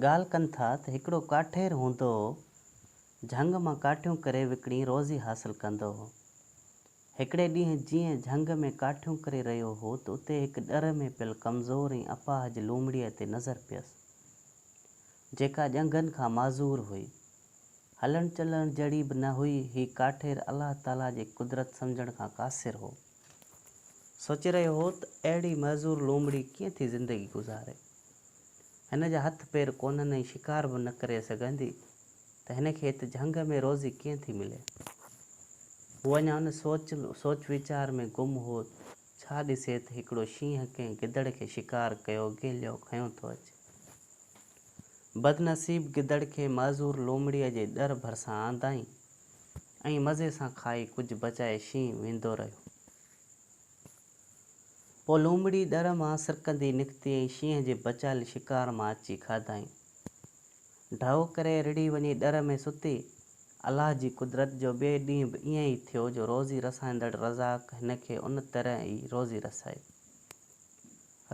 ڳالهه ڪن ٿا ته هڪڙو ڪاٺير هوندو هو، جهنگ مان ڪاٺيون ڪري وڪڻي روزي حاصل ڪندو هو. هڪڙي ڏينهن جيئن جهنگ ۾ ڪاٺيون ڪري رهيو هو ته اتي هڪ ڏر ۾ پيل ڪمزور ۽ اپاهج لومڙيء تي نظر پيس، جيڪا ڄنگهن کان معذور هئي. هلڻ چلڻ جهڙي به نه هئي، هي ڪاٺير الله تعاليٰ جي قدرت سمجهڻ کان قاصر هو. سوچي رهيو هو ته اهڙي معذور لومڙي ڪيئن ٿي زندگي گذاري. هن جا هٿ پير ڪونهن ۽ شڪار به نه ڪري سگهندي ته هن کي هت جهنگ ۾ روزي ڪيئن ٿي ملي. هو اڃا ان سوچ سوچ ويچار ۾ گم هو ڇا ڏسي ته هڪڙو شينهن ڪنهن گدڙ کي شڪار ڪيو گهيليو کنيو ٿو اچي. بدنصيب گدڙ کي معذور لومڙيء جي ڏر ڀرسان آندائين ۽ مزي سان کائي ڪجهه بچائي شينهن ويندو رهيو. پوء لومڙي ڏر مان سرڪندي نڪتي ۽ شينهن جي بچايل شڪار مان اچي کاڌائين. ڍؤ ڪري رڙهي وڃي ڏر ۾ ستي. الله جي قدرت جو ٻئي ڏينهن به ائين ئي ٿيو جو روزي رسائيندڙ رزاق هن کي ان طرح ئي روزي رسائي.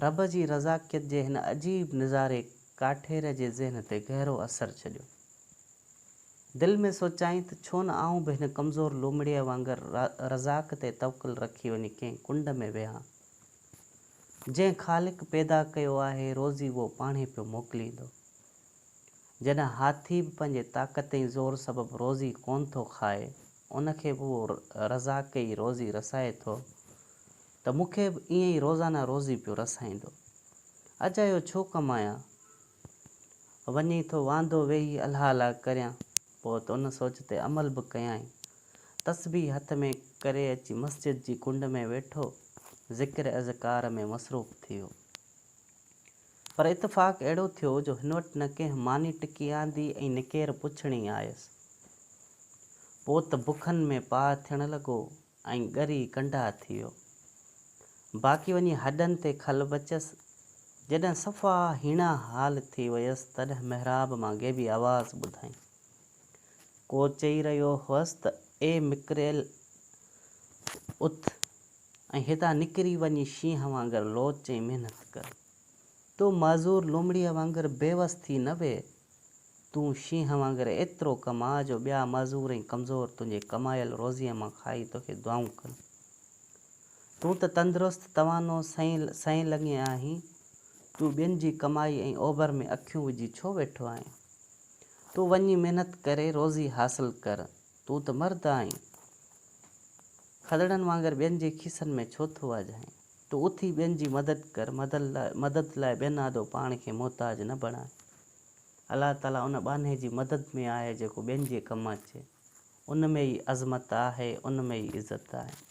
رب جي رزاقيت جي هن عجيب نظاري ڪاٺير جي ذهن تي گهرو اثر ڇڏيو. دل ۾ سوچيائين ته ڇو نه آئون به هن ڪمزور لومڙيء وانگر رزاق تي توڪل رکي وڃي ڪنهن ڪنڊ ۾ ويهان. جنهن خالق پيدا ڪيو آهي روزي اهو پاڻهي پيو موڪليندو. جڏهن هاٿي به پنهنجي طاقت ۽ زور سبب روزي ڪونه ٿو کائي، ان کي به اهو رزاق ئي روزي رسائي ٿو. ته مون کي به ائين ئي روزانه روزي پيو رسائيندو. اجايو ڇو ڪمايان؟ وڃي ٿو واندو ويهي الا الا ڪريان. پوء ته ان سوچ تي عمل به ڪيائين. تسبيح هٿ ۾ ڪري اچي مسجد جي ڪنڊ ۾ ويٺو، ذڪر اذڪار ۾ مصروف ٿي ويو. پر اتفاق اهڙو ٿيو جو هن وٽ نه ڪنهن ماني ٽڪي آندي ۽ نه ڪير پڇڻ ئي آيس. پوء ته بکن ۾ پاهه ٿيڻ لڳو ۽ ڳري ڪنڊا ٿي ويو. باقي وڃي هڏن تي کل بچس. جڏهن صفا هيڻا حال ٿي ويس تڏهن محراب مان غيبي آواز ٻڌائين. ڪو چئي رهيو هئس ته اي مڪريل اٿ ۽ هتان نڪري وڃي شينهن وانگر لوچ ۽ محنت ڪر. تو معذور لومڙيء وانگر بيوس ٿي نه ويهه. تون شينهن وانگر ايترو ڪماء جو ٻيا معذور ۽ ڪمزور تنهنجي ڪمايل روزيء مان کائي توکي دعائون ڪن. تون ته تندرست، توانو، سئين سئين لڱين آهين، تون ٻين جي ڪمائي ۽ اوڀر ۾ اکيون وجهي ڇو ويٺو آهين؟ تون وڃي محنت ڪري روزي حاصل ڪر، تون ته مرد آهين، کدڙن وانگر ٻين جي کيسن ۾ ڇو ٿو واجهائين؟ تون اٿي ٻين جي مدد ڪر، مدد لاء ٻين آڏو پاڻ کي محتاج نه بڻاء. الله تعاليٰ ان ٻانهي جي مدد ۾ آهي جيڪو ٻين جي ڪم اچي. ان ۾ ئي عظمت آهي، ان ۾ ئي عزت آهي.